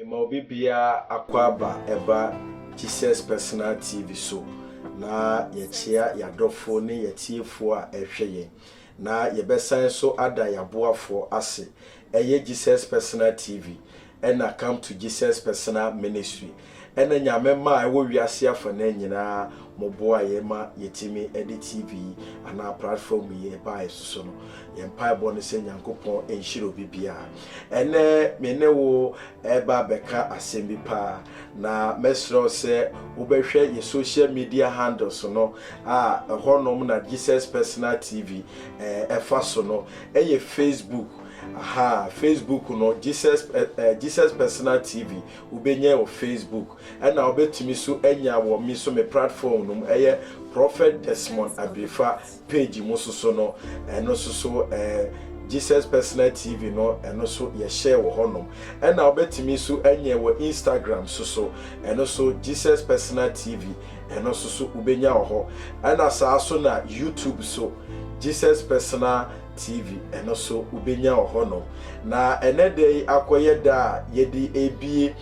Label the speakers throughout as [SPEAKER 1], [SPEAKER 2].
[SPEAKER 1] mema obi biara akwaaba ɛba Jesus Personal TV so na yɛkyea yɛadɔfoɔ ne yɛatiefoɔ a ɛhwɛ yɛn na yɛbɛsan so ada yɛaboafoɔ ase ɛyɛ Jesus Personal TV ɛna Come to Jesus Personal Ministry ɛna Nyame mma a ɛwɔ wiase afanaa nyinaa mo boa yɛn ma yɛtumi ɛde TV yi anaa platform yi ɛbaa yɛn so so no. Yɛn mpaebɔ ne sɛ Nyankopɔn ɛnhyira obi biara. Ɛnɛ me ne wo ɛreba abɛka asɛm bi paa na mɛsrɛ wo sɛ wobɛhwɛ yɛn social media handles no a ɛhɔ nom na Jesus Personal TV ɛfa so no Ɛyɛ Facebook ahaa Facebook no Jesus eh Jesus personal TV wobɛnya wɔ Facebook ɛna wobɛtumi so anya wɔ me so me platform no mu ɛyɛ Prophet Desmond Abirifa page mu soso no ɛno soso eh Jesus personal TV no ɛno so yɛhyɛ wɔ hɔ nom ɛna wobɛtumi so anya wɔ Instagram soso ɛno so Jesus personal TV Ɛno nso so wobɛnya wɔ hɔ. Ɛna saa nso na YouTube so, Jesus Personal TV, ɛno nso wobɛnya wɔ hɔ nom. Na ɛnɛ da yi akɔyɛ da a yɛde rebie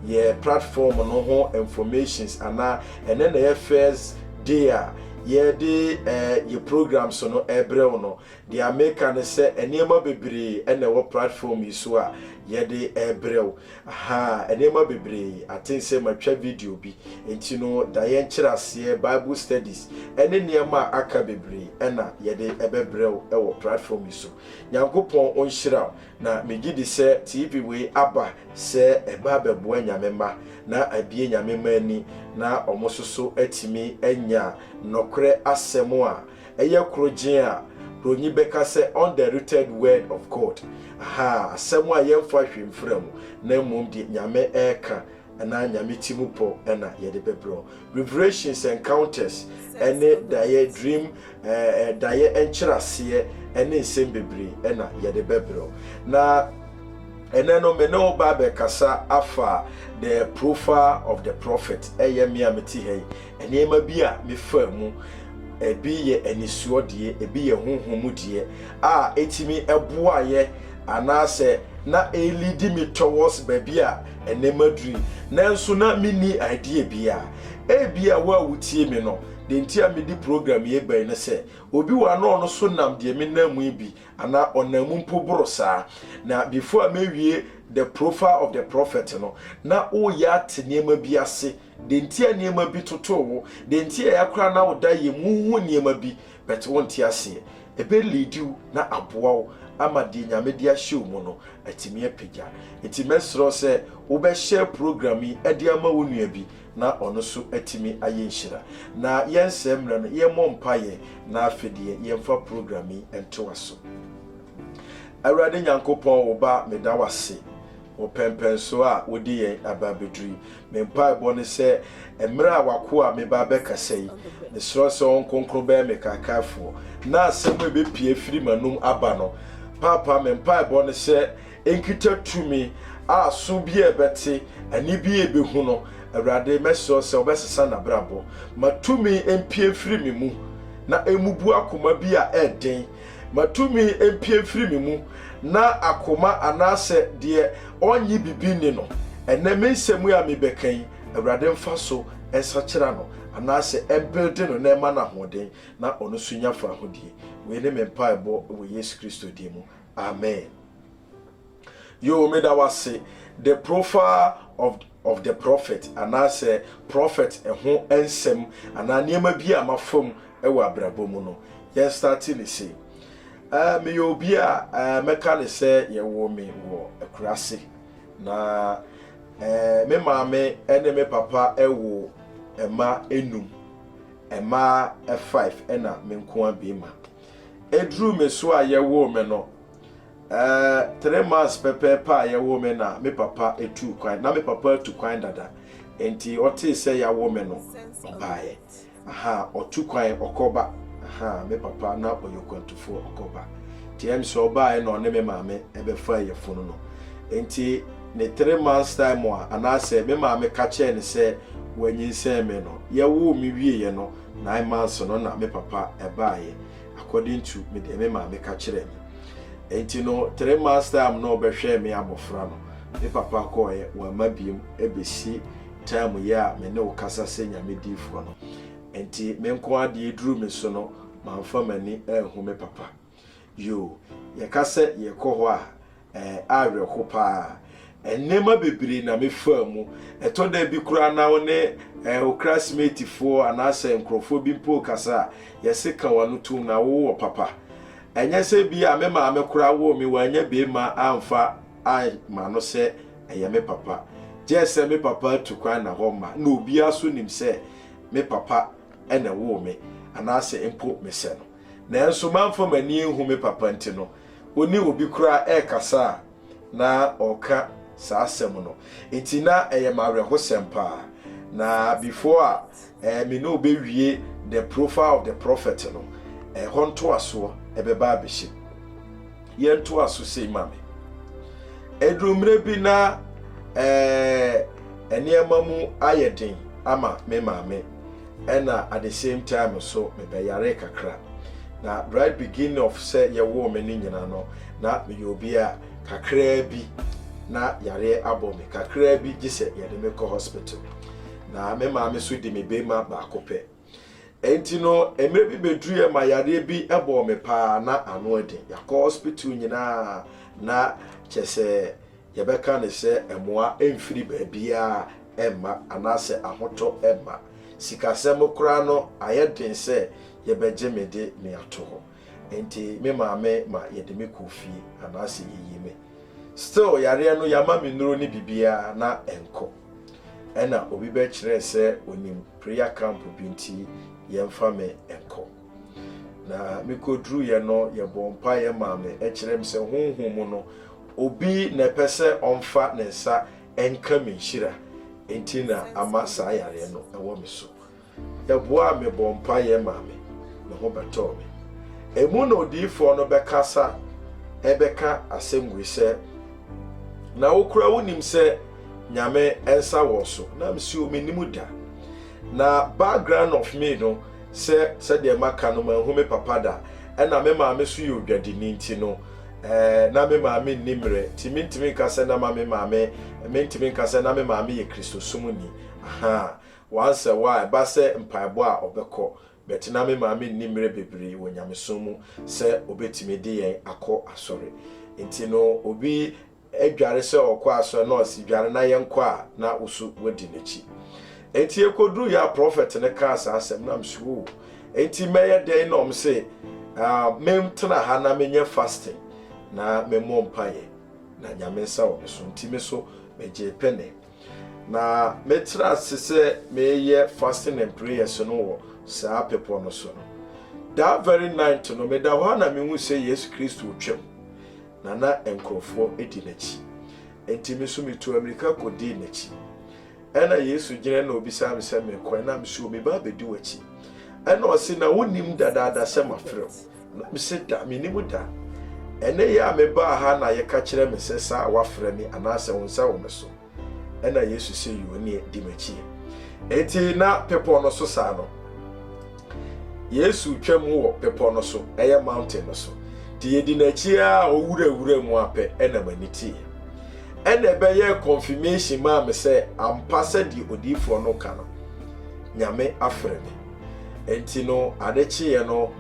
[SPEAKER 1] yɛ platform no ho informations anaa ɛnɛ na ɛyɛ first day a yɛde eh, yɛ programs no ɛbrɛ wo no. Deɛ meka ne sɛ nneɛma bebree ɛna ɛwɔ platform yi so a yɛde ɛbrɛ wo. Ahaa, nneɛma bebree. I think sɛ matwa video bi. Enti no, daeɛ nkyerɛaseɛ, Bible studies, ne nneɛma a aka bebree na yɛde bɛbrɛ wo wɔ platform yi so. Nyankopɔn ɔnhyira wo. Na megye di sɛ TP wei aba sɛ ɛba abɛboa Nyame mma na abue Nyame mma ani na wɔn nso so atumi anya nɔkorɛ asɛm a Ɛyɛ koro gyen a, Buronyi bɛka sɛ undiluted word of God, ahaa, asɛm a yɛmfa hwee mfra mu, na mmom deɛ Nyame reka anaa Nyame ti mu pɔ na yɛde bɛbrɛ wo. Revelations, encounters, ne daeɛ, dream, eh, daeɛ nkyerɛaseɛ ne nsɛm bebree na yɛde bɛbrɛ wo. Na ɛnɛ no me ne wo ba abɛkasa afa the profile of the prophet, ɛyɛ me a mete ha yi, Nneɛma bi a mefaa mu, ebi yɛ anisoɔ deɛ, ebi yɛ honhom mu deɛ a ɛtumi boaeɛ anaasɛ na ɛrelidi me towards baabi a ɛnnɛ maduru yi. Nanso na menni idea biara. Ebia wo a wotie me no, deɛ nti a mede program yi reba yi ne sɛ, obi wɔ ha na ɔno nso nam deɛ menam mu yi bi anaa ɔnam mu mpo boro saa. Na before a mɛwie The Profile of the Prophet no, na woreyɛ ate nneɛma bi ase. Deɛ nti a nneɛma bi totoo wo, deɛ nti a ɛakora na wo da yɛ mu, wohu nneɛma bi but wonte aseɛ. Ɛbɛ leadi wo na aboa wo ama deɛ Nyame de ahyɛ wo mu no atumi apagya. Nti mɛsrɛ wo sɛ wo bɛ share program yi de ama wo nua bi na ɔno nso atumi ayɛ nhyira. Na yɛnsɛe mmerɛ no, yɛmmɔ mpaeɛ na afei deɛ yɛmfa program yi ntoa so. Awurade Nyankopɔn wo ba meda wo ase Wo pɛnpɛnsoɔ a wode yɛn aba abɛduru yi, me mpaebɔ ne sɛ mmerɛ a w'akoa meba abɛkasa yi, mesrɛ sɛ wo Nkronkron bɛyɛ me kaakaefoɔ na asɛm a ɛbɛpue afiri m'anom aba no, Paapa, me mpaebɔ ne sɛ ɛnkita tumi a aso biara bɛte, ani biara bɛhu no. Awurade, mɛsrɛ wo sɛ wobɛsesa n'abrabɔ. Ma tumi mpue mfiri me mu na ɛmmubu akoma bi a ɛyɛ den. Ma tumi mpue mfiri me mu, na akoma anaasɛ deɛ ɔnnye bibi nni no, ɛnnɛ me nsɛm yi a mebɛka yi, Awurade mfa so nsakyera no, anaasɛ ɛmbilde no na ɛma no ahoɔden, na ɔno nso nya fahodie. Wei ne me mpaebɔ wɔ Yesu Kristo din mu, amen. Yoo, meda wo ase, the profile of. of the prophet anaasɛ prɔfɛt ho nsɛm anaa nneɛma bi a mafa mu wɔ abrabɔ mu no. Yɛn starte no sei. Eh, meyɛ obi a eh, mɛka no sɛ yɛwoo me wɔ akuraase. Na eh, me maame ne me papa woo mma nnum, mmaa five na me nkoa bɛɛma. Ɛduruu me so a yɛwoo me no, Ɛɛ, three months pɛpɛɛpɛ a yɛwoo me na me papa tuu kwan. Ná me papa atu kwan dada, enti ɔtee sɛ yɛawo me no, ɔbaeɛ. Aha, ɔtu kwan, ɔkɔba. Aha, me papa, na ɔyɛ okwantufoɔ, ɔkɔba. Enti ɛyɛ me sɛ ɔbaeɛ na ɔne me maame bɛfaa yafunu no. Enti ne three months time a anaasɛ me maame ka kyerɛɛ no sɛ wanyinsɛn me no, yɛwoo me wieeɛ no, nine months no na me papa baeɛ. according to me deɛ me maame ka kyerɛɛ me. Enti no three months time na ɔbɛhwɛɛ me abɔfra no, me papa kɔɔɛ wamma biom ɛbɛsi time yi a me ne wo kasa sɛ Nyame diifoɔ no. Enti me nko ara deɛ ɛduru me so no manfa m'ani anhu me papa. Yoo, yɛka sɛ yɛkɔ hɔ a Ɛɛ, awerɛho paa. Nneɛma bebree na mefaa mu. Ɛtɔ da bi koraa na wo ne ɛɛ, wo klasmeetifoɔ anaasɛ nkurɔfoɔ bi mpo rekasa a, yɛse ka w'ano tom na wowɔ papa. Ɛnyɛ sɛ bi a me maame koraa woo me, wannya beema amfa amma no sɛ ɛyɛ me papa. Gyɛ sɛ me papa atu kwan na hɔ mma, na obiara nso nim sɛ me papa na ɛwoo me, anaasɛ mpo mesɛ no. Nanso mamfa m'ani anhu me papa nti no, wo ne obi koraa rekasa a na ɔreka saa asɛm no. Enti na ɛyɛ me awerɛhosɛm paa. Na before a eh, me ne wo bɛwie The Profile of the Prophet no, ɛhɔ ntoasoɔ ɛbɛba abɛhyɛ mu. Yɛntoa so sei ma me. Ɛduru mmerɛ bi na eh, nneɛma mu ayɛ den ama me maame. Ɛna at the same time nso mebɛyaree kakra. Na right beginning of sɛ yɛwoo me no nyina no, na meyɛ obi a kakraa bi na yareɛ abɔ me kakraa bi gye sɛ yɛde me kɔ hospital. Na me maame nso di me beema baako pɛ. Ɛnti no mmerɛ bi bɛduruiɛ ma yareɛ bi bɔɔ me paa na ano ɛden. Yɛakɔ hospital nyinaa na kyɛsɛ yɛbɛka ne sɛ mmoa mfiri baabiara mma anaasɛ ahotɔ mma. Sikasɛm koraa no, ayɛ den sɛ yɛbɛgye me de me ato hɔ. Enti me maame ma yɛde me kɔɔ fie anaasɛ yɛyii me. Still yareɛ no yɛama me nnuro ne biribiara na ɛnkɔ. Ɛna obi bɛkyerɛɛ sɛ ɔnim prayer camp bi nti yɛmfa me nkɔ. Na mekoduruiɛ no, yɛbɔɔ mpaeɛ maa me, kyerɛɛ me sɛ honhom mu no, obi na ɛpɛ sɛ ɔmfa ne nsa nka me nhyira nti na ama saa yareɛ no wɔ me so. Yɛboaa me bɔɔ mpaeɛ maa me, me ho bɛtɔɔ me. Emu na odiyifoɔ no bɛkasa ɛbɛka asɛm wei sɛ, Na wo koraa wonim sɛ Nyame nsa wɔ so? Na mese, O, mennim da. Na background of me no sɛ sɛdeɛ maka no manhu me papa da ɛna me maame nso yɛ odwadini nti no eh na me maame nni mmerɛ nti mentumi nka sɛ na ma me maame mentumi nka sɛ na me maame yɛ Kristosom ni ahaa once a while ɛba sɛ mpaebɔ a ɔbɛkɔ But na me maame nni mmerɛ bebree wɔ nyamesom mu sɛ ɔbɛtumi de yɛn akɔ asɔre. Nti no obi dware sɛ ɔkɔ asɔre na ɔse dware na yɛnkɔ a na wo so woadi n'akyi. Nti ɛkɔduruiɛ a prɔfɛt no kaa saa asɛm na mese oo nti mɛyɛ dɛn na ɔm se mentena ha na menyɛ fasting na memmɔ mpaeɛ na Nyame nsa wɔ me so. Nti me so megyee pene. Na mɛtra ase sɛ mereyɛ fasting and prayers no wɔ saa bepɔ no so no. That very night no, meda hɔ a na mehu sɛ Yesu Kristo retwam, na na nkurɔfoɔ di n'akyi. Enti me nso metu amirika kɔdii n'akyi. Ɛna Yesu gyina na ɔbisaa me sɛ merekɔ, ɛna me so meba abɛdi w'akyi. Ɛna ɔse, na wonim dadaada sɛ mafrɛ wo. Na mese, Da, mennim da. Ɛnnɛ yi a mebaa ha na yɛka kyerɛɛ me sɛ saa a woafrɛ me, anaasɛ wo nsa wɔ me so? Ɛnna Yesu se, Yoo, neɛ, di m'akyi. Enti na bepɔ no so saa no, Yesu twa mu wɔ bepɔ no so, ɛyɛ mountain no so. Nti yɛdi n'akyi a ɔwurawura mu apɛ, ɛnna m'ani teeɛ. Ɛnna ɛbɛyɛɛ confirmation maa me sɛ ampa sɛdeɛ odiyifoɔ no ka no, Nyame afrɛ me. Enti no, ade kyeeɛ no,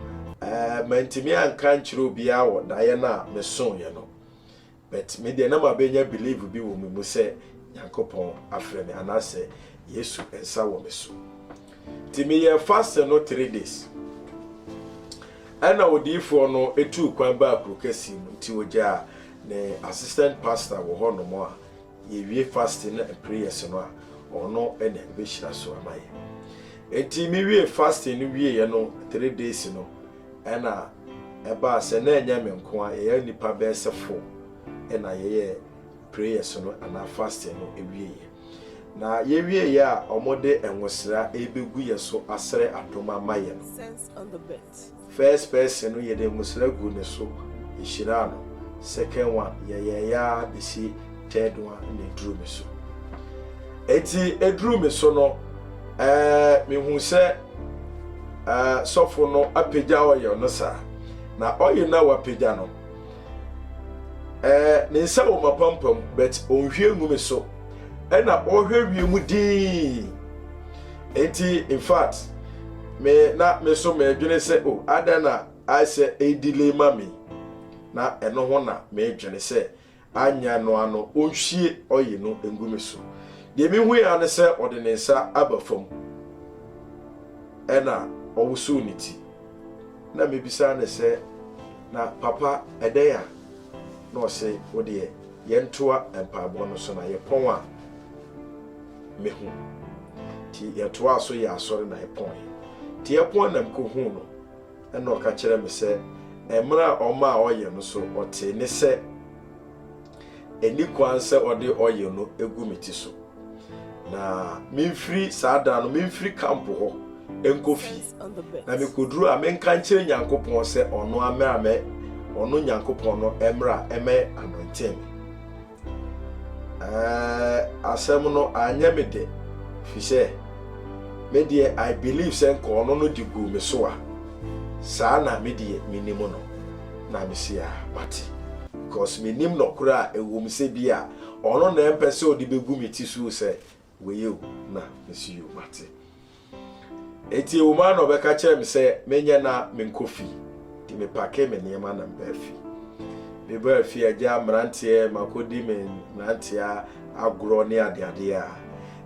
[SPEAKER 1] mantumi anka ankyerɛ obiara wɔ daeɛ no a mesoeɛ no. But me deɛ na mabɛnya believe bi wɔ me mu sɛ Nyankopɔn afrɛ me anaasɛ Yesu nsa wɔ me so. Nti meyɛɛ fasting no three days. Ɛna odiyifoɔ no tuu kwan baa kuro kɛseɛ mu nti ɔgyaa ne assistant pastor wɔ hɔnom a Yɛwie fasting ne prayers no a, ɔno na ɔbɛhyira so ama yɛn. Enti me wiee fasting no wieeɛ no three days no, ɛna ɛbaa sɛ na ɛnyɛ me nko ara, yɛyɛ nnipa bɛyɛ sɛ four na yɛyɛ prayers no anaa fasting no wieeɛ. Na yɛwieeɛ a, wɔde nwosra rebɛgu yɛn so asrɛ adom ama yɛn. Lit. First person no yede mmosra gu ne so hyiraa no, second one yɛyɛeɛ ara besi third one na eduru me so. Enti eduru me so no eh, mehu sɛ eh, sɔfo no apagya oil no saa, na oil no a wapagya no eh, ne nsa wɔ m'apampam but ɔnhwie ngu me so, ɛna ɔhwɛ wie mu dinn. Enti in fact me na me so medwene sɛ o adɛn na ayɛ sɛ ɛdelay ma me na ɛno ho na medwene sɛ anyɛ no ano ɔnhwie ɔye no ngu me so deɛ mehui ara ne sɛ ɔde ne nsa aba fam ɛna ɔwosow ne ti na mebisa ne sɛ na papa ɛdɛn a na ɔse wodeɛ yɛntoa mpaebɔ no so na yɛpɔn a me hu. Nti yɛtoaa so yɛɛ asɔre na yɛpɔn ɛ. Nti yɛpɔn na mekɔ huu no ɛna ɔka kyerɛɛ me sɛ ɛmmerɛ a ɔma a ɔyɛ no so ɔtee ne sɛ ɛnni kwan sɛ ɔde ɔyɛ no gu me ti so na memfiri saa da no memfiri kampo hɔ nkɔ fie na mekɔduru a menka nkyerɛ Nyankopɔn sɛ ɔno amɛ amɛ ɔno Nyankopɔn no ɛmmerɛ a ɛmɛ anɔntee me. Ɛɛ, asɛm no anyɛ me dɛ, efisɛ me deɛ I believe sɛ nka ɔno no de guu me so a, saa na me deɛ menim no, na mese a mate. Because menim nɔkorɛ a ɛwom sɛ bi a ɔno na ɛmpɛ sɛ ɔde bɛgu me ti so sɛ wei o na mesi yo mate eti wo maa na ɔbɛka kyerɛ me sɛ menyɛ na menkɔ fi nti mepake me nneɛma na mbaa fi mebaa fi agya mmeranteɛ makɔdi me mmeranteɛ agorɔ ne adeadeɛ a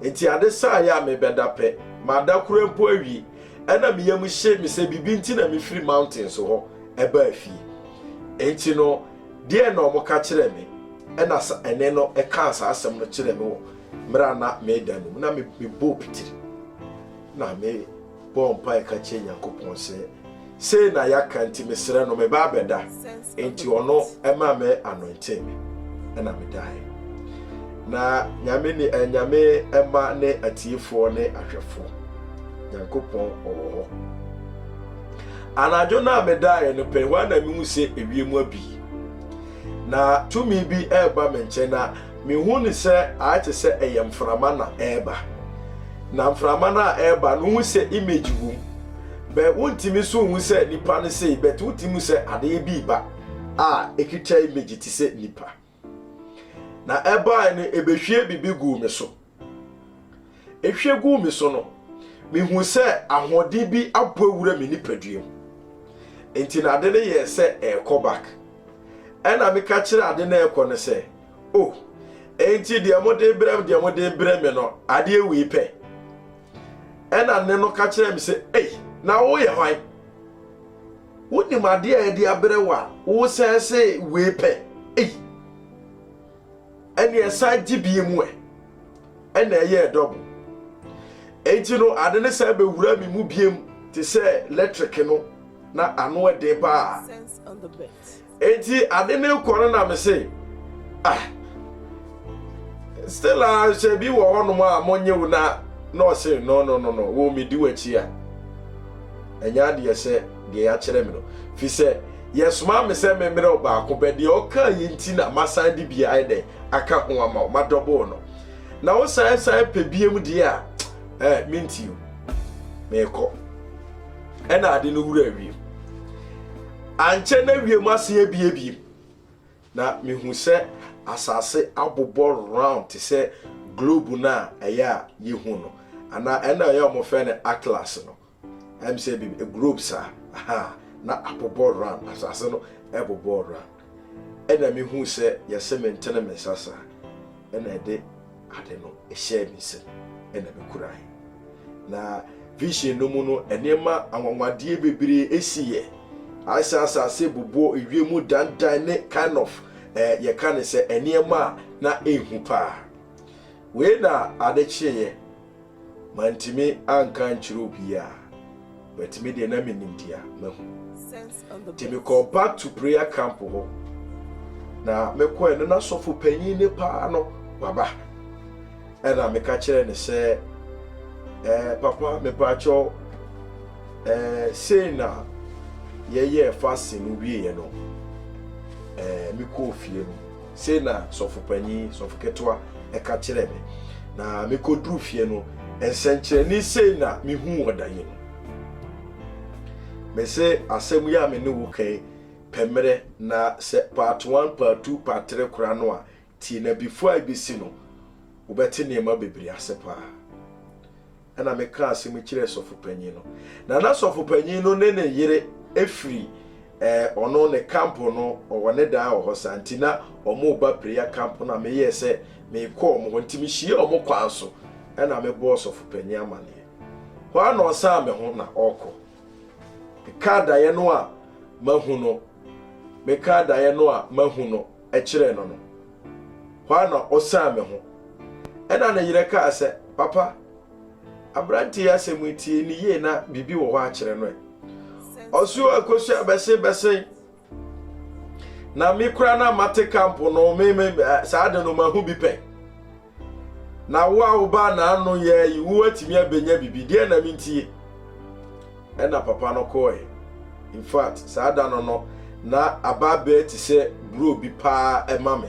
[SPEAKER 1] eti ade saa yɛ a mebɛda pɛ mada kura mpo awie ɛna me yam hye me sɛ biribi nti na mefiri mountain so hɔ ɛbaa fie enti no deɛ na ɔmo ka kyerɛ me ɛna ɛne no ɛkaa saa asɛm no kyerɛ me wɔ Mmerɛ a na mereda no mu na mebɔɔ pitiri na mebɔɔ mpaeɛ ka kyerɛ Nyankopɔn sɛ, Sei na yɛaka nti mesrɛ no meba abɛda. Enti ɔno ɛma me anointee me ɛna medaeɛ. Na Nyame ni eh, Nyame ɛma ne atiefoɔ ne ahwɛfoɔ. Nyankopɔn ɔwɔ hɔ. Anadwo no a medaeɛ no pɛ hɔ a na mehu sɛ ewiem abi. Na tumi bi ɛreba me nkyɛn na Mihu no sɛ ayɛ te sɛ ɛyɛ mframa na ɛreba. Na mframa no a ɛreba no, wohu sɛ image wom. Bɛ wontumi nso nhu sɛ nipa no sei, but wotumi hu sɛ adeɛ bi reba a ekita image te sɛ nipa. Na ɛbae no, ebehwie biribi guu me so. Ehwie guu me so no, mihuu sɛ ahoɔden bi abɔ awura me nipaduam. Enti na ade no yɛɛ sɛ ɛrekɔ back. Ɛna meka kyerɛ ade no ɛrekɔ no sɛ, Oh, enti deɛ mode brɛ me deɛ mode brɛ me no, adeɛ wei pɛ. Ɛna ne no ka kyerɛ me sɛ, Ei, na woyɛ hwan? Wonim adeɛ a yɛde abrɛ wo a wosɛe sɛ wei pɛ? Ei! ɛnna ɛsan gye bie mu ɛ ɛnna ɛyɛɛ dɔbo enti no ade ne san bɛwura me mu biem te sɛ lɛtreke no na ano ɛden paa enti ade ne kɔ no na me se ah still a hyɛ bi wɔ hɔnom a monyɛ wo na na ɔse no no no no wo medi w'akyi a ɛnyɛ adeɛ sɛ deɛ yɛakyerɛ me no, firi sɛ yɛsomaa me sɛ memmrɛ wo baako bɛ deɛ ɔkaa yi nti na masan de bia ayɛ dɛn aka ho ama wo madɔboo no na wo san san pɛ biam deɛ a eh, mentio meekɔ ɛna ade no wura wiem ankyɛ na wiem ase abie biem na mehu sɛ asase abobɔ round te sɛ globe no a ɛyɛ a yɛhu no anaa ɛna ɛyɛ ɔmofɛ no atlas no Ɛm sɛ bi globe saa ahaa na abobɔ round asase no ɛbobɔɔ round ɛna me huu sɛ yɛse me ntene me nsa saa ɛna ɛde ade no ɛhyɛɛ me nsam ɛna me kurae na vision no mu no nneɛma anwanwadeɛ bebree ɛsi yɛ ayɛ sɛ asase bobɔɔ ewie mu dandan ne kind of eh, yɛka ne sɛ nneɛma a na ɛnhu paa wei na ade kyeeɛ Mantumi anka ankyerɛ obiara, but me deɛ na menim deɛ mahu. Nti mekɔɔ back to prayer camp hɔ, na mekɔɛ no na sɔfo panyin ne paa no waba. Ɛna meka kyerɛ ne sɛ, eh, papa mepaakyɛw, eh, sei na yɛyɛɛ fasting no wieɛ no, eh, mekɔɔ fie no. Sei na sɔfo panyin, sɔfo ketewa, ka kyerɛɛ me, na mikoduu fie no, nsɛnkyerɛnne sei na mihuu wɔ da yi mu. Mise, Asɛm yi a me ne wo ka yi pɛ mmerɛ, na sɛ part one, part two, part three koraa no a, tie, na before a ebesi no, wobɛte nneɛma bebree ase paa. Ɛnna mekaa asɛm yi kyerɛɛ sɔfo panyin no, na na sɔfo panyin no ne ne yere firi ɔno ne camp no, ɔwɔ ne dan wɔ hɔ saa nti, na wɔreba prayer camp no a meyɛɛ sɛ merekɔ wɔn hɔ nti, mehyiaa wɔn kwan so na mebɔɔ sɔfo panyin amanneɛ. Hɔ ara na ɔsan me ho na ɔrekɔ. Mekaa daeɛ no a mahu no, mekaa daeɛ no a mahu no kyerɛɛ no no, hɔ ara na ɔsan me ho. Ɛnna ne yere kaa sɛ, Papa, aberante yi asɛm yi, tie no yie na biribi wɔ hɔ akyerɛ no ɛ. Ɔso akɔsu abɛsen bɛsen. Na me kura na mate kampo no, me me saa de no mahu bi pɛn. Na wo a wobaa n'ano yɛɛ yi, wo atumi abɛnya biribi. Deɛ na mentie. Ɛna papa no kɔɔɛ. In fact, saa da no no, na aba bɛɛ te sɛ buro bi paa ɛma me.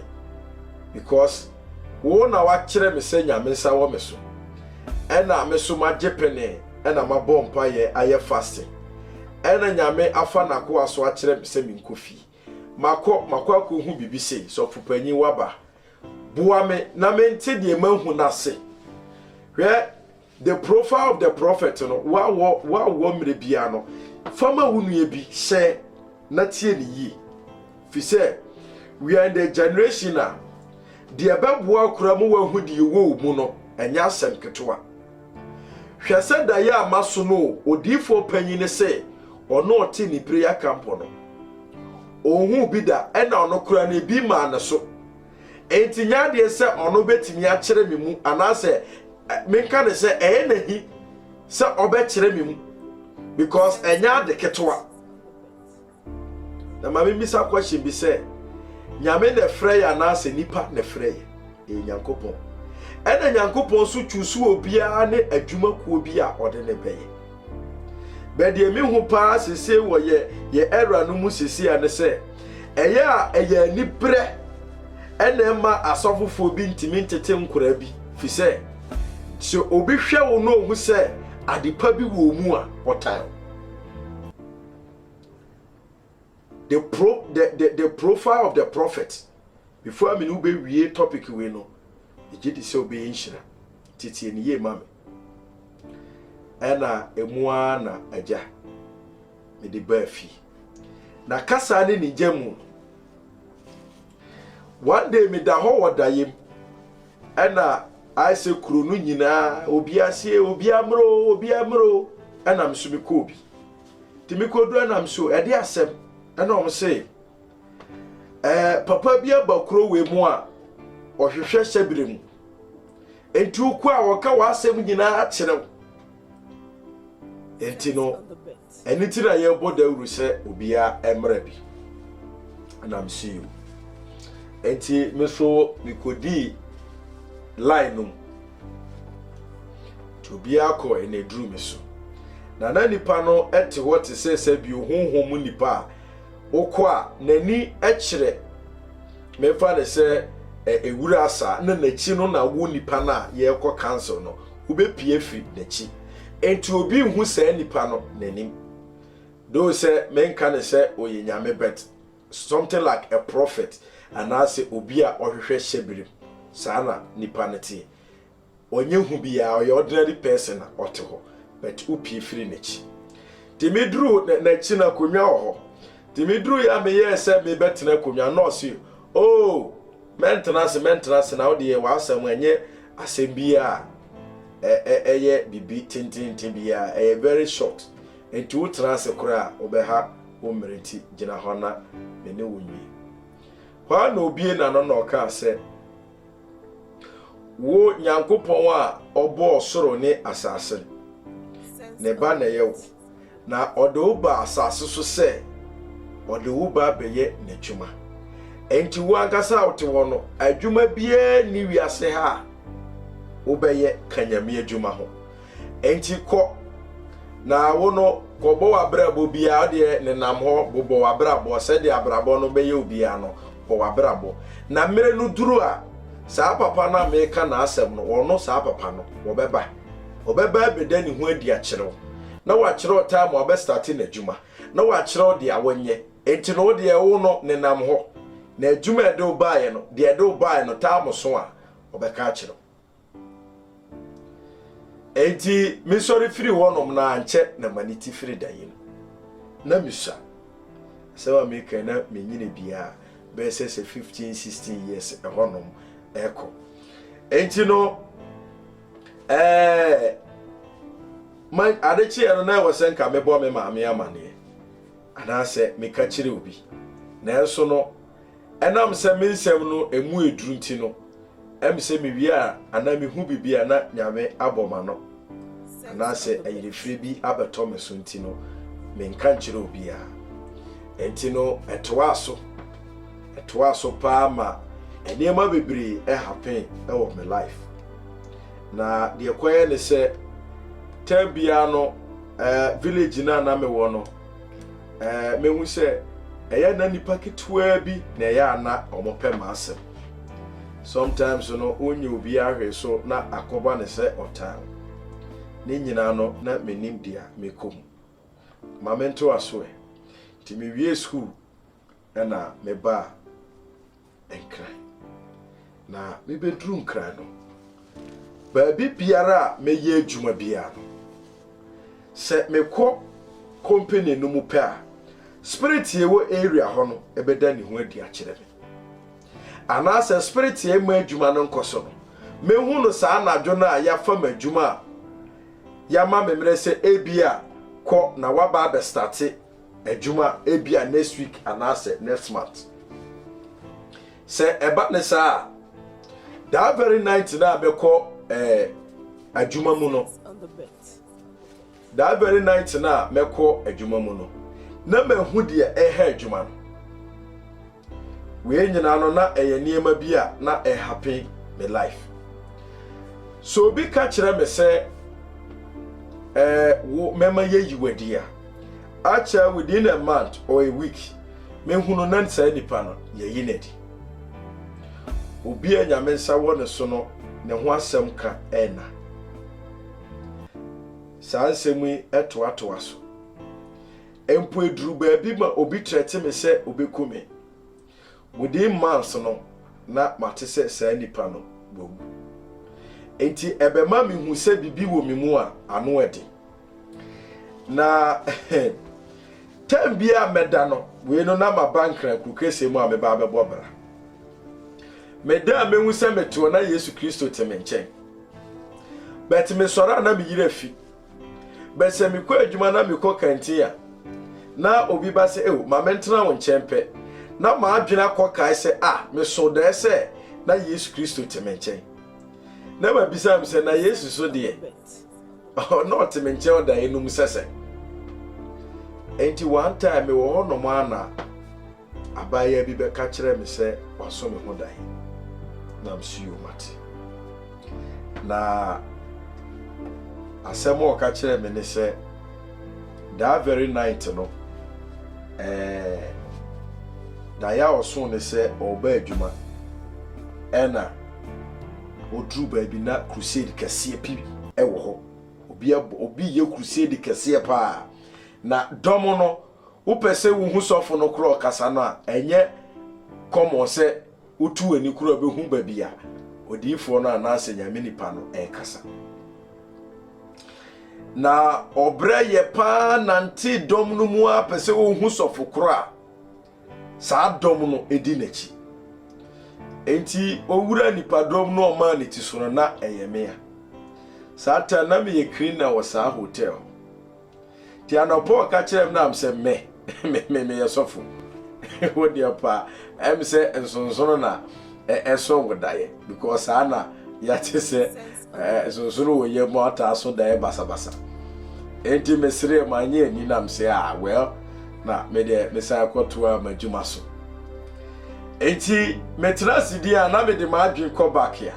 [SPEAKER 1] Because wo na wakyerɛ me sɛ Nyame nsa wɔ me so. Ɛna me so magye penee ɛna mabɔ mpaeɛ ayɛ fasting. Ɛna Nyame afa n'akoa so akyerɛ me sɛ menkɔ fie. Makɔ, makɔ akɔhu biribi sei, sɔfopanyin waba. Boa me na mente deɛ mahu no ase. Hwɛ The Profile of the Prophet no, woawɔ woawɔ mmerɛ biara no, fa ma wo nua bi hyɛ na tie ne yie. Fi sɛ, we are in the generation a deɛ ɛbɛboa koraa mu wahu deɛ ɛwɔ wo mu no, ɛnyɛ asɛm ketewa. Hwɛ sɛ daeɛ a masonoo odiyifoɔ panyin no sɛ ɔno ɔte ne prayer camp no. Ɔnhuu bi da ɛna ɔno koraa no ebi maa ne so. Enti nyɛ adeɛ sɛ ɔno bɛtumi akyerɛ me mu anaasɛ menka ne sɛ ɛyɛ n'ahi sɛ ɔbɛkyerɛ me mu because ɛnyɛ ade ketewa. Na ma mimmisa question bi sɛ, Nyame na ɛfrɛ yɛ anaasɛ nipa na ɛfrɛ yɛ? Ɛyɛ Nyankopɔn. Ɛna Nyankopɔn nso choose obiara ne adwuma kuo bi a ɔde ne bɛyɛ. Bɛ deɛ me hu paa sese wɔ yɛ yɛ era no mu sese a ne sɛ, ɛyɛ a ɛyɛ anibrɛ ɛna ɛma asɔfofoɔ bi ntumi ntete nkoraa bi fi sɛ sɛ obi hwɛ wo na ohu sɛ adepa bi wɔ mu a ɔtan wo. the pro the the the profile of the prophet before a me ne wo bɛwie topic wei no megye di sɛ wobɛyɛ nhyira teteɛ ne yie ma me ɛna ɛmu ara na agya mede baa fie na kasa ne ne gya mu one day meda hɔ wɔ dayem ɛna ayɛ sɛ kuro no nyinaa obiara sie obiara mmerɛ obiara mmerɛ ɛna me so mekɔ obi Tumi kodu anam so ɛde asɛm ɛna wɔn se ɛɛ papa bi aba kuro wei mu a ɔhwehwɛ hyɛbere mu nti wokɔ a wɔka w'asɛm nyinaa kyerɛ wo nti no ɛne ti na yɛbɔ dawuru sɛ obiara ɛmmerɛ bi nam so yi nti me so mekodii line no mu Nti obiara kɔ anaduru me so. Na na nipa no te hɔ te sɛ sɛ bio honhom mu nipa a wokɔ a n'ani kyerɛ memfa ne sɛ ewura asa na n'akyi no na wo nipa no a yɛrekɔ council no wobɛpie afiri n'akyi. Nti obi nhu saa nipa no n'anim. Doo sɛ menka ne sɛ ɔyɛ nyame bɛt. Something like a prophet anaasɛ obi a ɔhwehwɛ hyɛbirim, saa na nipa no teɛ. Ɔnyɛ hu biaa, ɔyɛ ordinary person a ɔte hɔ but wo pie firi n'akyi. Nti me duru n'akyi no akonwa wɔ hɔ, nti me duru yɛ a me yɛɛ sɛ me bɛ tena akonwa no ɔse oh mɛ ntena ase mɛ ntena ase na wo deɛ w'asɛm ɛnyɛ asɛm biaa a ɛyɛ bibi tententen biaa ɛyɛ very short nti wo tena ase koraa wo bɛ ha wo mmere ti, gyina hɔ na me ne wo nwie. Hɔ ara na obue n'ano na ɔkaa sɛ, Wo Nyankopɔn a ɔbɔɔ soro ne asase no, ne ba na ɛyɛ wo, na ɔde wo baa asase so sɛ ɔde wo ba bɛyɛ n'adwuma. Enti wo ankasa a wote hɔ no, adwuma biara nni wiase ha a wobɛyɛ ka Nyame adwuma ho. Enti kɔ, na wo no, kɔbɔ w'abrabɔ biara, wodeɛ nenam hɔ, bobɔ w'abrabɔ, sɛdeɛ abrabɔ no bɛyɛ wo biara no, bɔ w'abrabɔ. Na mmerɛ no duru a, saa papa no a mereka n'asɛm no, ɔno, saa papa no, ɔbɛba. Ɔbɛba abɛda ne ho adi akyerɛ wo, na wakyerɛ wo time a ɔbɛstate n'adwuma, na wakyerɛ wo deɛ a wɔnyɛ. Enti no wodeɛ, wo no, nenam hɔ, na adwuma a ɛde wo baeɛ no, deɛ ɛde wo baeɛ no, time so a, ɔbɛka akyerɛ wo. Enti mesɔre firi hɔnom na ankyɛ na m'ani te firi da yi no. Na misua. Asɛm a meka na menyini biara bɛyɛ sɛ sɛ 15 16 years ɛhɔnom ɛkɔ. Enti no ɛɛ ma ade kyeɛ no na ɛwɔ sɛ nka mebɔ me maame amaneɛ anaasɛ meka kyerɛ obi. Nanso no Ɛnam sɛ me nsɛm no ɛmu ɛduru nti no, ɛm sɛ me wie a anaa me hu biribi a na Nyame abɔ m'ano, anaa sɛ ayerefire bi abɛtɔ me so nti no, me nka nkyerɛ obiara. Ɛnti no ɛtoaa so, ɛtoaa so paa ma nneɛma bebree ɛhappen ɛwɔ me life. Na deɛ ɛkɔyɛ ne sɛ, time biara no ɛɛ village no a na me wɔ no, Ɛɛ, mehu sɛ ɛyɛ a na nnipa ketewaa bi na ɛyɛ a na wɔpɛ m'asɛm. Sometimes no, wonnya obiara hwee so na akɔba no sɛ ɔtan. Ne nyinaa no, na minnim deɛ mekɔ mu. Ma mentoa so ɛ. Nti mewiee sukuu na mebaa. Nkran. Na mebɛduru Nkran no, baabi biara a mɛyɛ adwuma biara no, sɛ mekɔ company no mu pɛ a, spirit a ɛwɔ area hɔ no ɛbɛda ne ho adi akyerɛ me. Anaasɛ spirit a ɛma adwuma no nkɔ so no, mɛhu no saa anadwo no a yɛafa ma adwuma a yɛama me mmerɛ sɛ ebia kɔ na waba abɛstate adwuma ebia next week anaasɛ next month sɛ ɛba ne saa a that very night na abɛkɔ ɛɛ eh, adwuma mu no that very night na mɛkɔ adwuma mu no na mahu deɛ ɛha adwuma no. Wei nyinaa no na ɛyɛ nneɛma bi a na ɛhappen me life. So obi ka kyerɛ me sɛ ɛɛ eh, wo mɛma yɛyi wadi a akyɛ within a month or a week mehunu na saa nipa no yɛyi n'adi. Obi a nyame nsa wɔ ne so no ne ho asɛm ka ɛna. Saa nsɛm yi ɛtoatoa so. Mpo eduru baabi ma obi trɛte me sɛ obeku me. Within months no, na mate sɛ saa nipa no wawu. Enti ɛbɛma mihu sɛ biribi wɔ me mu a, ano ɛde. Na tɛm biara a mɛda no, wei no na maba Nkrankuru Kɛseɛ mu a meba abɛbɔ bra. Meda a mehu sɛ mete hɔ na Yesu Kristo te me nkyɛn. But mesɔre a na me yere afi, But sɛ mekɔ adwuma na mekɔ kantin a, na obi ba sɛ, Ew, ma mentena wo nkyɛn pɛ. Na m'adwene akɔ kae sɛ, A, meso dae sɛ na Yesu Kristo te me nkyɛn. Na mabisa me sɛ, Na Yesu so deɛ, na ɔte me nkyɛn ɔdaeɛ no mu sɛ sɛn? Enti one time mewɔ hɔnom anaa? Abaayewa bi bɛka kyerɛɛ me sɛ waso ne ho dae. Na mso yom ate. Na asɛm a ɔka kyerɛɛ me ne sɛ, that very night no, eh, dae a ɔso ne sɛ ɔreba adwuma, ɛna oduru baabi na crusade kɛseɛ pi wɔ hɔ. Obi, obi yɛ crusade kɛseɛ paa. Na dɔm no Wopɛ sɛ wuhu sɔfo no koro ɔkasa no a, ɛnyɛ kɔmmɔn sɛ wotu w'ani koro behu baabi a odiyifoɔ no anaasɛ Nyame nipa no rekasa. Na ɔbrɛ yɛ paa nante dɔm no mu ara pɛ sɛ ohu sɔfo koro a saa dɔm no di n'akyi. Enti owura nipadɔm no ɔmaa ne ti so no, na ɛyɛ mea. Saa ta na meyɛ cleaner wɔ saa hotel hɔ. Ti anɔpɔ ɔka kyerɛ m nam sɛ me me meyɛ sɔfo wo deɛ paa ɛm sɛ nsonsono na ɛso wo daeɛ because saa na yɛate sɛ nsonsono wɔ yɛ mu ataa so daeɛ basabasa enti mesrɛ ma anyɛ ani nam sɛ a ah, well na medeɛ mesan kɔtoa m'adwuma so enti metra ase din a na mede m'adwen kɔ back a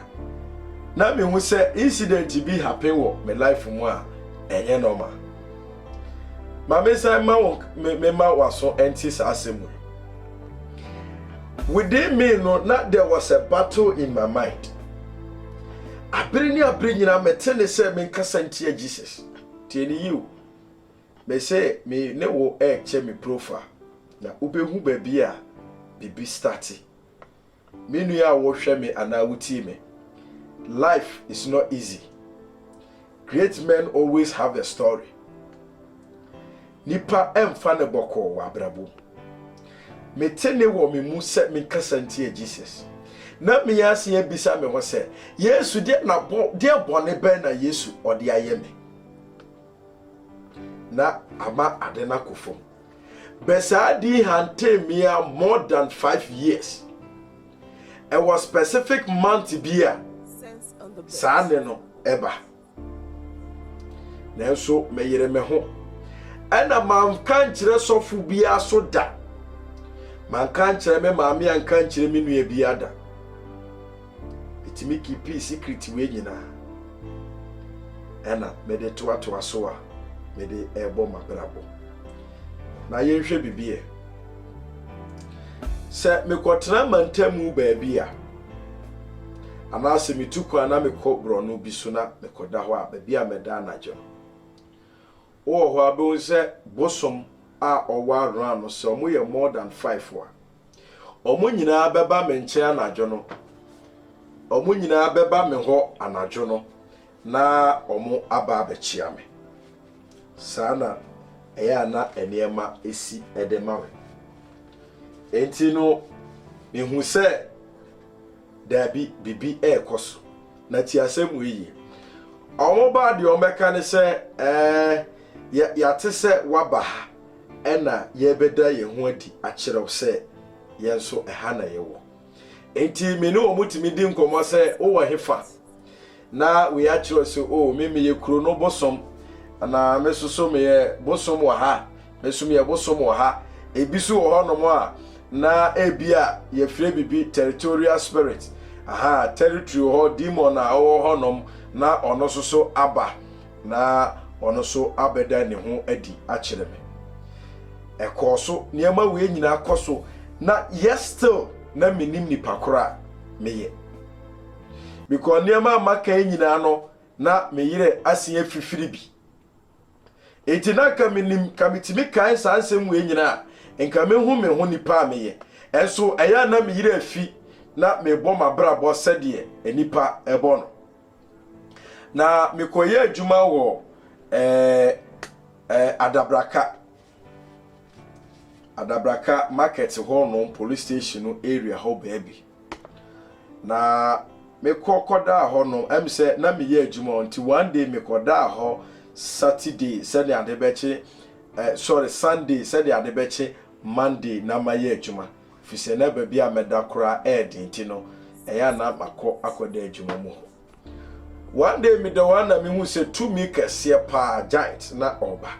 [SPEAKER 1] na mehu sɛ incident bi happen wɔ me life mu a Ɛnyɛ nɔɔma. Ma mensan ma wo mema w'aso nte saa asɛm wei. Within me no, na there was a battle in my mind. Abere ne abere nyinaa mete ne sɛ menkasa ntia Jesus. Tie ne yiw. Mese me ne wo ɛrekyɛ me profile na wobɛhu baabi a biribi starte. Me nua a wohwɛ me anaa wutie me, life is not easy. Great men always have a story. Nipa ɛmfa ne bɔkɔɔ wɔ abrabɔ mu. Mete ne wɔ me mu sɛ menkasa ntia Jesus. Na me ase abisa me ho sɛ, Yesu deɛ na bɔ deɛ bɔne bɛn na Yesu ɔde ayɛ me? Na ama ade no akɔ fam. but saa di hantain me a more than five years. Ɛwɔ specific month bi a saa ne no ɛba. Nanso meyere me ho. Ɛna manka nkyerɛ sɔfo biara so da. Manka nkyerɛ me maame anka nkyerɛ me nua biara da. metumi keepii secret wei nyinaa ɛna mede toatoa so a mede ɛrebɔ m'abrabɔ na yɛnhwɛ biribi ɛ sɛ mekɔtena mantamu baabi a anaasɛ metu kwan na mekɔ borɔno bi so na mekɔda hɔ a baabi a mɛda anadwo no wowɔ hɔ a bɛhu sɛ bosom a ɔwɔ around no sɛ ɔmo yɛ more than five a Wɔn nyinaa bɛba me nkyɛn anadwo no. Wɔn nyinaa bɛba me hɔ anadwo no na wɔaba abɛkyea me. Saa na ɛyɛ a na nneɛma si de ma me. Enti no, mehu sɛ daabi biribi rekɔ so. Na ti asɛm wei yie. Wɔbaa deɛ wɔbɛka ne sɛ, ɛɛ, yɛate sɛ waba ha. Ɛnna yɛrebɛda yɛn ho adi akyerɛ wo sɛ yɛn nso ɛha na yɛwɔ. Enti me ne wɔn tumi di nkɔmmɔ sɛ, 'Wowɔ hefa? Na wei akyerɛ wo sɛ, 'O, me meyɛ kuro no bosom, anaa me nso so meyɛ bosom wɔ ha, me nso meyɛ bosom wɔ ha. Ebi nso wɔ hɔnom a na ebia yɛfrɛ biribi territorial spirit, aha, territory wɔ hɔ, demon a ɔwɔ hɔnom na ɔno nso so aba. na ɔno nso abɛda ne ho adi akyerɛ me. Ɛkɔɔ so, nneɛma wei nyinaa kɔ so, na yet still na mennim nipa koro a meyɛ. Because nneɛma a maka yi nyinaa no, na me yerɛ asen afifiri bi. Enti na nka menim, nka metumi kae saa nsɛm wei nyinaa a, nka mehu me ho nipa a meyɛ. Ɛnso ɛyɛ a na me yerɛ afi na mebɔ m'abrabɔ sɛdeɛ nnipa bɔ no. Na mekɔyɛ adwuma wɔ ɛɛ ɛɛ Adabraka Adabraka market hɔ nom police station no area hɔ baabi. Na mekɔ kɔdaa hɔ nom ɛm sɛ na meyɛ adwuma hɔ nti one day mekɔdaa hɔ Saturday sɛdeɛ ade bɛkye eh, sorry Sunday sɛdeɛ ade bɛkye Monday na mayɛ adwuma. Efisɛ na baabi a mɛda koraa yɛ den nti no, ɛyɛ a na makɔ akɔda adwuma mu hɔ. One day meda hɔ a na mihu sɛ tumi kɛseɛ paa, giant, na ɔreba.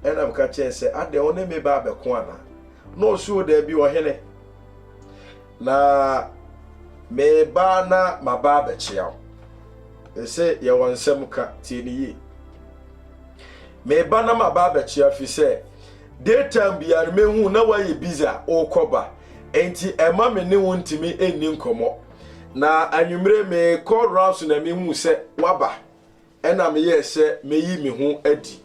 [SPEAKER 1] Ɛna meka kyerɛɛ no sɛ, Adɛn, wo ne me ba abɛko anaa? Na ɔse, O daabi, ɔhene. Na mereba na maba abɛkyea wo. Mese, Yɛwɔ nsɛm ka, tie no yie. Mereba na maba abɛkyea wo efisɛ Day time biara no mehu na woayɛ busy a wokɔ ba, enti ɛma me ne wo ntumi nni nkɔmmɔ. Na anwummere mekɔ rounds na mehu sɛ woaba, ɛna meyɛɛ sɛ meyi me ho adi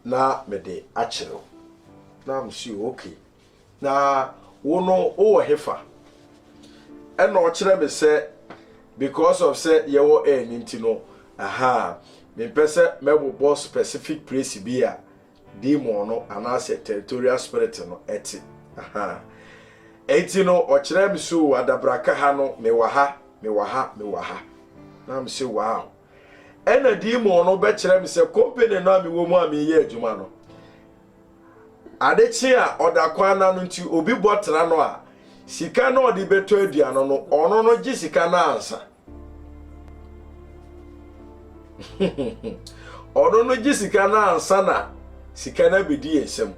[SPEAKER 1] na mede akyerɛ wo. Na I'm sure, okay. Na wo no wowɔ hefa? Ɛna ɔkyerɛ me sɛ because of sɛ yɛwɔ air no nti no, aha, mempɛ sɛ mɛbobɔ specific place bi a demon no anaasɛ territorial spirit no te. Ahaa. Enti no, ɔkyerɛɛ me sɛ, Oo, adabraka ha no, mewɔ ha, mewɔ ha, mewɔ ha. Na me sɛ, Wow. Ɛna demon no bɛkyerɛ me sɛ, company no a mewɔ mu a meyɛ adwuma no, ade kye a ɔda kwan na no nti, obi bɔ tra no a, sika na ɔde bɛtɔ aduane no, ɔno no gye sika no ansa. ɔno no gye sika no ansa na sika no abɛdi yɛ nsam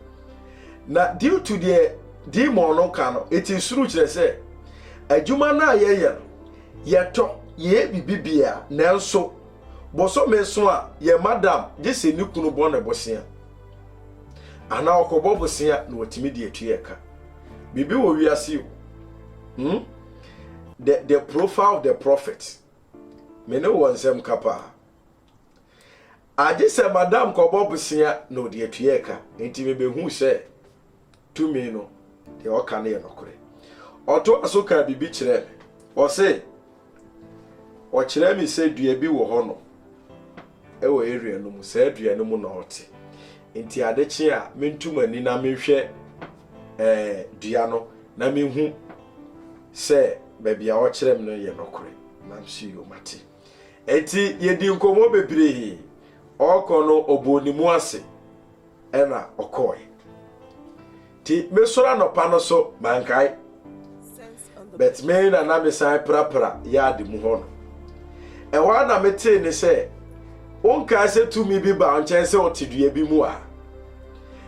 [SPEAKER 1] na due to deɛ demon no ka no ɛti nsoro kyerɛ sɛ adwuma no a yɛyɛ no yɛtɔ yɛyɛ biribi bia nanso bosome so a yɛ madam gye sɛ ne kunu bɔ ne bosea anaa ɔkɔbɔ bosea na watumi de atua ɛka biribi wɔ wiase o hmm? The, the profile of the prophet. Me ne wɔ nsɛm ka paa. Agye sɛ madam kɔbɔ bosea na ɔde atua ɛka. Nti mebehu sɛ tumi no deɛ ɔka no yɛ nokorɛ. Ɔtoa so kaa biribi kyerɛɛ me. Ɔse, ɔkyerɛɛ me sɛ dua bi wɔ hɔ no. Wɔ area no mu, saa dua no mu na ɔte. Nti ade kye a, mentu m'ani na menhwɛ eh, dua no na mehu sɛ baabi a ɔkyerɛ me no yɛ nɔkorɛ. Nam so yo, mate. Nti yɛdii nkɔmmɔ bebree. Ɔrekɔ no, ɔbɔɔ ne mu ase. ɛna ɔkɔɔe nti mesɔre anɔpa no so mankae but me na na mesan prapra yaade mu hɔ no ɛhɔ a na metee ne sɛ wonkae sɛ tumi bi ba nkyɛn sɛ ɔte dua bi mu a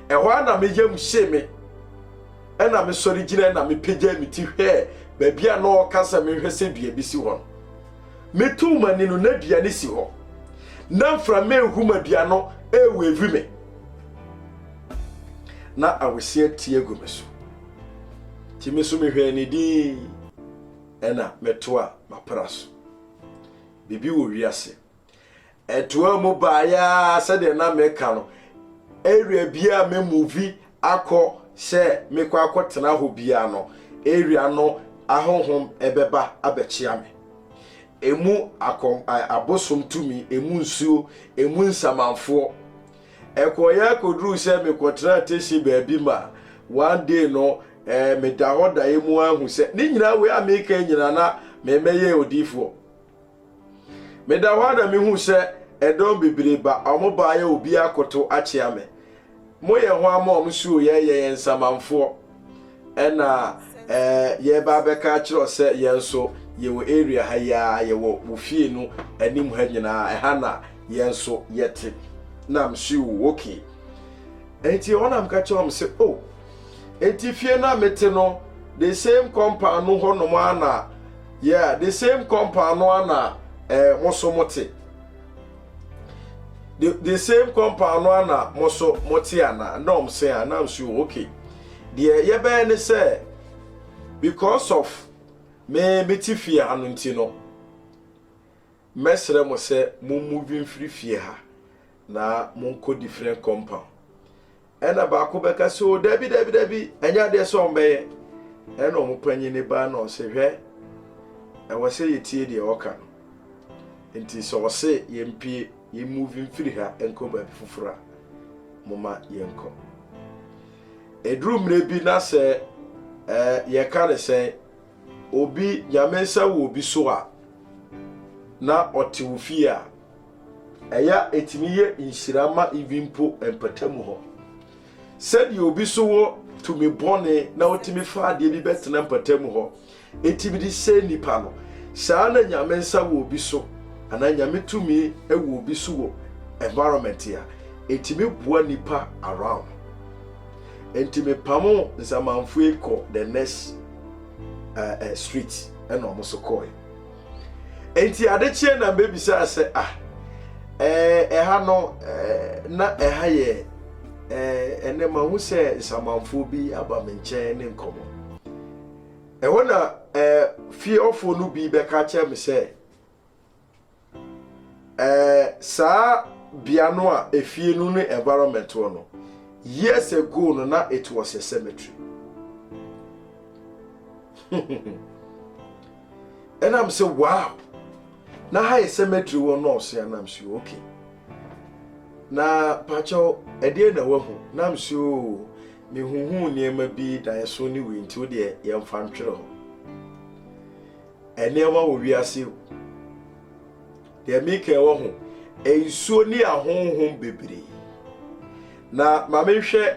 [SPEAKER 1] ɛhɔ a na meyam hye me ɛna mesɔre gyina na mepagya me ti hwɛɛ baabi a na ɔka sɛ menhwɛ sɛ dua bi si hɔ no Metoo m'ani no, na dua no si hɔ. Na mframa ehum a dua no reweevi me. Na awesia tie gu me so. Nti me nso mehwɛɛ ne din, ɛna metoa m'apra so. Biribi wɔ wiase. Ɛtoaa mu baeɛ ara sɛdeɛ na meka no, area biara a memuvi akɔ sɛ mekɔ akɔtena hɔ biara no, area no ahonhom ɛbɛba abɛkyea me. Emu akɔm, abosom tumi, emu nsuo, emu nsamanfoɔ. Ɛkɔeɛ akɔduruu sɛ mekɔtena Teshie baabi ma one day no eh, meda hɔ daeɛ mu ara hu sɛ ne nyinaa wei a meka nyinaa na memɛyɛ odiifoɔ. Meda hɔ ara na mihuu sɛ ɛdɔm bebree ba, wɔbaeɛ obiara akoto akyea me. Moyɛ ho ama wɔn suo, yɛyɛ yɛn nsamanfoɔ. Ɛna ɛɛ yɛreba abɛka akyerɛ wo sɛ yɛn nso yɛwɔ area ha yi ara, yɛwɔ wo fie no anim ha nyinaa, ɛha na yɛn nso yɛte. Na msuo okay. Enti ɛhɔ na meka kyerɛ wɔn sɛ, oh, Enti fie no a mete no, the same compound no hɔnom ara na yeah, the same compound no ara na eh, mo so mote. The, the same compound no ara na mo so mote ana? Na ɔm se a, na mse o, okay. Deɛ yɛbɛyɛ ne sɛ, because of me mete fie ha no nti no, Mɛsrɛ mo sɛ mo move mfiri fie ha na monkɔ different compound. Ɛna baako bɛka sɛ o dabi dabi dabi ɛnyɛ adeɛ sɛ wɔn bɛyɛ. Ɛna wɔn panyini baa na ɔse hwɛ ɛwɔ sɛ yɛtie deɛ ɔka no. Nti sɛ ɔse yɛmpie yɛ move mfiri ha nkɔ baabi foforɔ a moma yɛnkɔ. Ɛduru mmerɛ bi na sɛ eh yɛka ne sɛn Obi nya me nsa wɔ obi so a, na ɔte wo fie a, ɛyɛ a ɛtumi yɛ nhyira ma ibi mpo mpatamu hɔ. Sɛdeɛ obi so wɔ tumi bɔne na ɔtumi fa adeɛ bi bɛtena mpatamu hɔ, ɛtumi de sɛ nnipa no, saa na nyame nsa wɔ obi so anaa nyame tumi wɔ obi so wɔ environment a, ɛtumi boa nnipa around. Enti me pamoo nsamanfue kɔ the next uh, uh, street ɛna ɔmo so kɔɔe. Enti ade kyeɛ na mbebisaa sɛ ah ɛɛ eh, ɛha no ɛɛ eh, na ɛha yɛ ɛɛ ɛnɛ mahu sɛ nsamanfoɔ bi aba me nkyɛn ne nkɔmɔ. Ɛhɔ na ɛɛ fie ɔfoɔ no bi bɛka kyerɛ me sɛ Ɛɛ saa bea no a efie no ne environment wɔ no, years ago no na it was a cemetery. Ɛna m sɛ wow, na ha yɛ cemetery wɔ nɔɔso a na m sɛ okay. Na pakyɛw ɛdeɛ na wahu na m sɛ oo oh, mehuhu nneɛma bi daeɛso ne wei nti wodeɛ yɛmfa ntwerɛ hɔ. Nneɛma wɔ wiase yi mu. Deɛ meka yi wɔ ho, nsuo ne ahonhom bebree. Na ma menhwɛ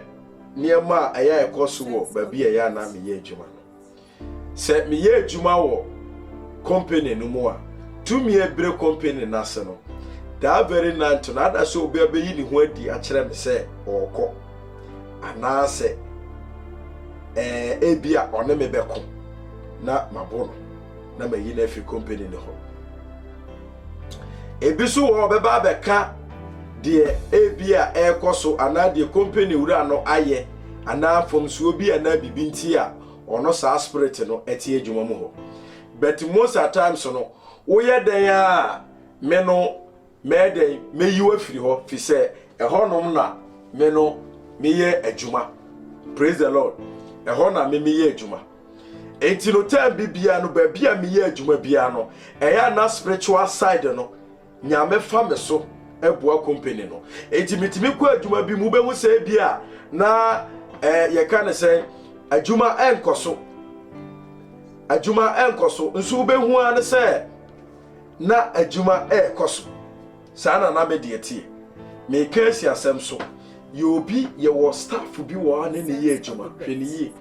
[SPEAKER 1] nneɛma a ɛyɛ a ɛkɔ so wɔ baabi a ɛyɛ a na meyɛ adwuma no. Sɛ meyɛ adwuma wɔ company no mu a, tumi a ɛbere company no ase no, that very night no ada sɛ obi abɛyi ne ho adi akyerɛ me sɛ ɔrekɔ. anaasɛ ɛɛ ebi a ɔne me bɛko na mabo no na mayi no afiri kompani no hɔ ebi so wɔ ɔbɛba abɛka deɛ ebi a ɛrekɔ so anaa deɛ kompani wura no ayɛ anaa mfomsoɔ bi anaa biribi nti a ɔno saa spirit no ɛte adwuma mu hɔ but most at times no woyɛ dɛn a me no Mɛyɛ dɛn? Mɛyi wo afiri hɔ, firi sɛ ɛhɔnom na me no meyɛ adwuma. Praise the Lord. Ɛhɔ na me meyɛ adwuma. Enti no tɛm bi biara no baabi a meyɛ adwuma biara no, ɛyɛ na spiritual side no nyame fa me so ɛboa company no. Enti metumi kɔ adwuma bi mu bɛhu sɛ bi a na eh, yɛka ne sɛ adwuma ɛnkɔ so. Adwuma ɛnkɔ so. Nso wobɛhu ara ne sɛ na adwuma rekɔ so. Saa na na me deɛ teɛ. Meka asi asɛm so. Yɛ obi yɛwɔ staff bi wɔ hɔ a ne ne yɛ adwuma. Hwɛ ne yie.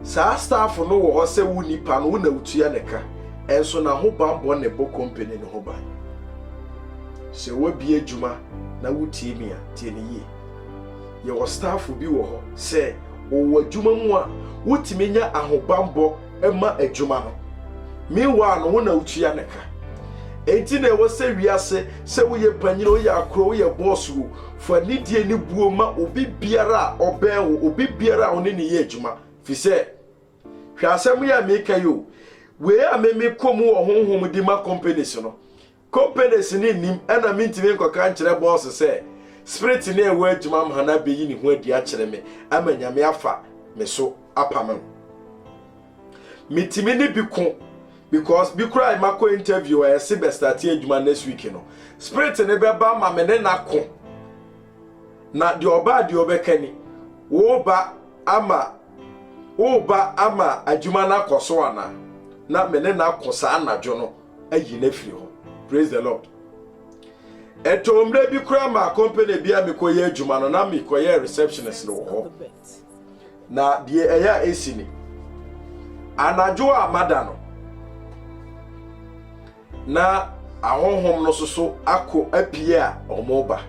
[SPEAKER 1] Saa staff no wɔ hɔ sɛ wo nipa no wo na wotua ne ka. Ɛnso na ho bammɔ na ɛbɔ company no ho ban. Sɛ woabie adwuma na wotie me a, tie ne yie. Yɛwɔ staff bi wɔ hɔ sɛ wɔwɔ adwuma mu a wotumi nya ahobammɔ. ma adwuma no. Meanwhile no, wo na wotua ne ka. Enti na ɛwɔ sɛ wiase, sɛ woyɛ panyin, woyɛ akora, woyɛ boss wo, fa nidie ne buo ma obi biara a ɔbɛn wo, obi biara a wo ne ne yɛ adwuma. Fi sɛ, hwɛ asɛm yi a meka yi o, wei a me mekɔ mu wɔ honhom di ma companies no, Companies no nnim ɛna mentumi nkɔka nkyerɛ bɔɔse sɛ spirit no a ɛwɔ adwuma m' ha no abeyi ne ho adi akyerɛ me ama Nyame afa me so apa me ho. Metumi ne bi ko because bi koraa a makɔ interview a yɛse bɛ starte adwuma next week no, spirit no bɛba ma me ne no ako. Na deɛ ɔba a deɛ ɔbɛka ni, woba ama woba ama adwuma no akɔ so anaa? Na me ne no ako saa anadwo no. ayi no afiri hɔ praise the lord ɛtɔ mmerɛ bi koraa maa company bi a mekɔyɛ adwuma no na mekɔyɛ receptionist wɔ hɔ na deɛ ɛyɛ a ɛsi ni anadwo a mada no na ahonhom no soso akɔ apue a wɔn ba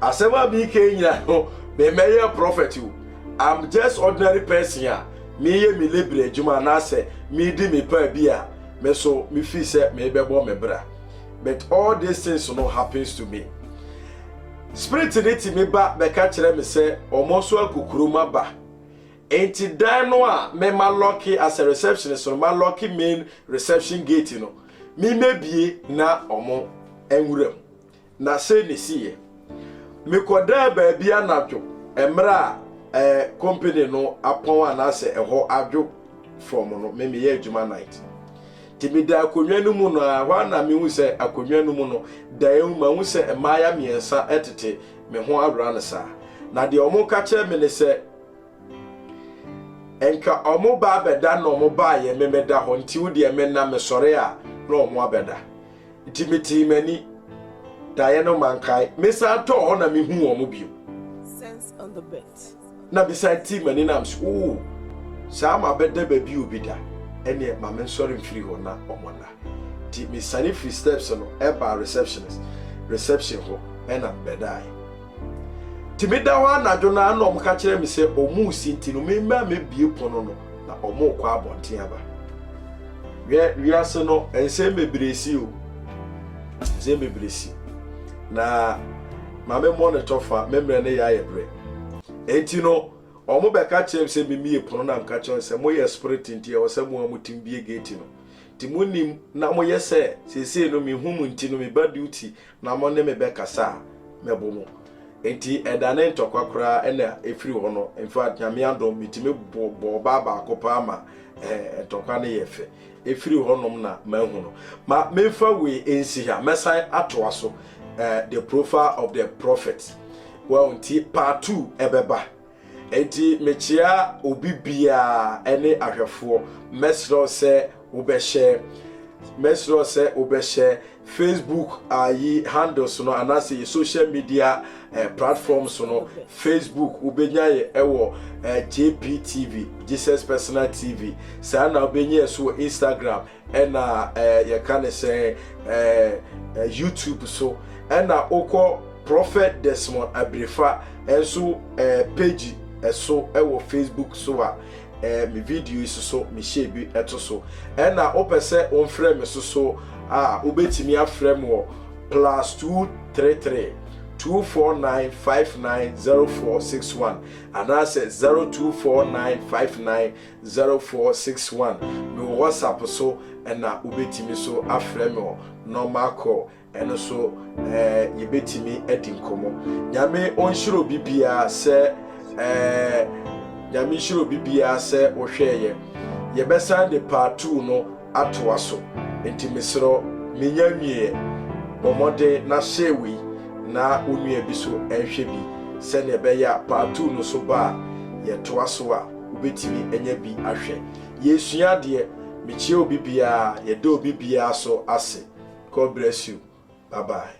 [SPEAKER 1] asɛm a meka nyina no mɛmɛyɛ prophet o i'm just ordinary person a meyɛ me labor adwuma anaasɛ medi me paa bi a Me so me feel sɛ merebɛbɔ me bra but all these things no happens to me spirit ne ti me ba bɛka kyerɛ me sɛ ɔmo nso akukuro ma ba enti dan no a me ma lɔke as a receptionist no ma lɔke main reception gate no me mebie na ɔmo nwura mu Na sei ne siiɛ, mekɔdaa baabi anadwo mmerɛ a eh, company no apɔn anaasɛ ɛhɔ adwo from no, me meyɛ adwuma night. Nti meda akonnwa no mu no a, hɔ a na mehu sɛ akonnwa no mu no, daeɛ mu mahu sɛ mmaaya mmiɛnsa tete me ho awera no saa. Na deɛ wɔn ka kyerɛ me ne sɛ, nka wɔn ba abɛda na wɔn baayɛ me meda hɔ, nti wo deɛ menna, mesɔre a na wɔn abɛda. Nti metee m'ani. Daeɛ no mankae. Mesan tɔɔ hɔ na mehuu wɔn bio.
[SPEAKER 2] Na mesan
[SPEAKER 1] tii m'ani na mese, Oo, saa mabɛda baabi o bi da. Ɛneɛ ma mensɔre mfiri hɔ na wɔnna. Nti mesiane firii steps no baa receptionist reception hɔ na mebɛdaeɛ. Nti meda hɔ anadwo no ara na wɔka kyerɛ me sɛ wɔresi nti no memmra mmɛbue pono no na wɔrekɔ abɔnten aba. Hwɛ wiase no nsɛm bebree si o. Nsɛm bebree si. Na ma me mmɔ ne tɔfa me mmerɛ ne yɛ ayɛ berɛ. Nti no wɔn bɛka kyerɛ me sɛ memmie pono na meka kyerɛ sɛ moyɛ spirit nti ɛwɔ sɛ mo a motim bie gate no. Nti monim na moyɛ sɛ seesei no mehu mu nti no meba duty na mo ne me bɛkasa a, mɛbo mo. Enti ɛda ne ntɔkwa koraa ɛna ɛfiri hɔ no, in fact Nyame adom metumi bɔɔ ɔbaa baako paa ma ɛɛ ntɔkwa no yɛɛ fɛ. Ɛfiri hɔ nom na mahu no. Ma memfa wei ɛnsi ha, mɛsan atoa so ɛɛ the profile of the prophet. Well nti part two ɛbɛba. Enti mekyea obi biara ne ahwɛfoɔ. Mɛsrɛ wo sɛ wobɛhyɛ mɛsrɛ wo sɛ wobɛhyɛ Facebook ayi handles no anaasɛ yɛ social media eh, platforms no. Facebook wobɛnya yɛ ɛwɔ eh, JPTV, Jesus Personal TV. Saa na wobɛnya yɛ so wɔ Instagram. ɛna ɛɛ yɛka ne sɛ ɛɛ youtube so ɛna wokɔ prophet desmond abirifa ɛnso ɛɛ page ɛso ɛwɔ facebook so a ɛɛ me video yi soso mehyɛ bi ɛto so ɛna wopɛ sɛ womfrɛ me soso a wobɛtumi afrɛ me wɔ plus two three three. 249590461 anaasɛ 024959 Zero four six one mewɔ whatsapp so ɛna wobɛtumi so afrɛ me ɔ normal call ɛno so ɛɛ yɛbɛtumi adi nkɔmɔ nyame ɔnhyira obi biara sɛ ɛɛ nyame nhyira obi biara sɛ wohwɛɛyɛ yɛbɛsan de part two no atoa so nti meserɛ menya nwieɛ bɔ mmɔden na share wei na wo nua bi so ɛnhwɛ bi sɛnea ɛbɛyɛ a part two no so ba a yɛtoa so a wobɛtumi anya bi ahwɛ. Yɛresua adeɛ. Mekyia obi biara. Yɛda obi biara so ase. God bless you. Bye bye.